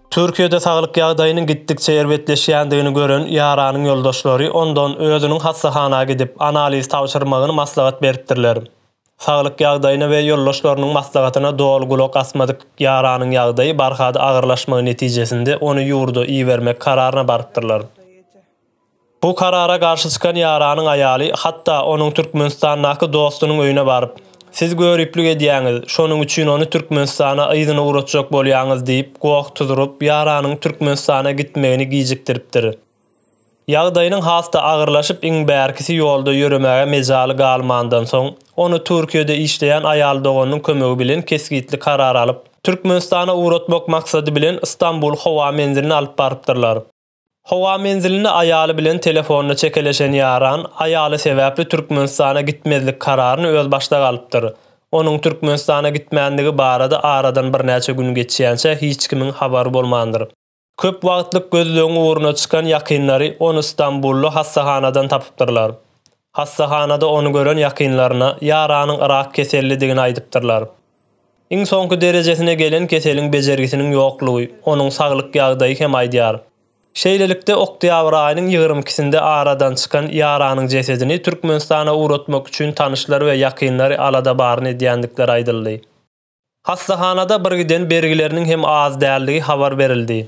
Türkiýede saglyk ýagdaýynyň gitdikçe erbetleşýändigini gören ýaranyň ýoldaşlary ondan özüniň hassahana gidip, analiz tabşyrmagyny maslahat beripdirler. Saglyk ýagdaýyna we ýoldaşlarynyň maslahatyna doly gulak asmadyk ýaranyň ýagdaýy barha-da agyrlaşmagy netijesinde ony ýurda ibermek kararyna barypdyrlar. Bu karara garşy çykan ýaranyň aýaly hatda onuň Türkmenistandaky dostunyň öýüne baryp, Siz göriplik edýäňiz, şonuň üçin ony Türkmenistana yzyna ugratjak bolýaňyz diýip goh tuzuryp, ýaranyň Türkmenistana gitmegini gijikdiripdir. Ýagdaýynyň has-da agyrlaşyp, iň bärkisi ýolda ýöremäge mejaly galmandan soň, ony Türkiýede işleýän aýal doganynyň kömegi bilen kesgitli karar alyp, Türkmenistana ugratmak maksady bilen Stambul howa menziline alyp barypdyrlar. Howa menziline aýaly bilen telefonda çekeleşen Ýaran, aýaly sebäpli Türkmenistana gitmezlik kararyny özbaşdak alypdyr. Onuň Türkmenistana gitmändigi barada aradan birnäçe gün geçýänçä hiç kimiň habary bolmandyr. Köp wagtlyk gözlegiň ugruna çykan ýakynlary ony Stambully hassahanadan tapypdyrlar. Hassahanada ony gören ýakynlaryna ýaranyň yrak kesellidigini aýdypdyrlar. Iň soňky derejesine gelen keseliň bejergisiniň ýoklugy, onuň saglyk ýagdaýy hem aýdýar. Şeýlelikde, oktýabr aýynyň ýigrimi ikisinde aradan çykan ýaranyň jesedini Türkmenistana ugratmak üçin tanyşlary we ýakynlary alada baryny edýändikleri aýdyldy. Hassahanada birgiden bergileriniň hem az däldigi habar berildi.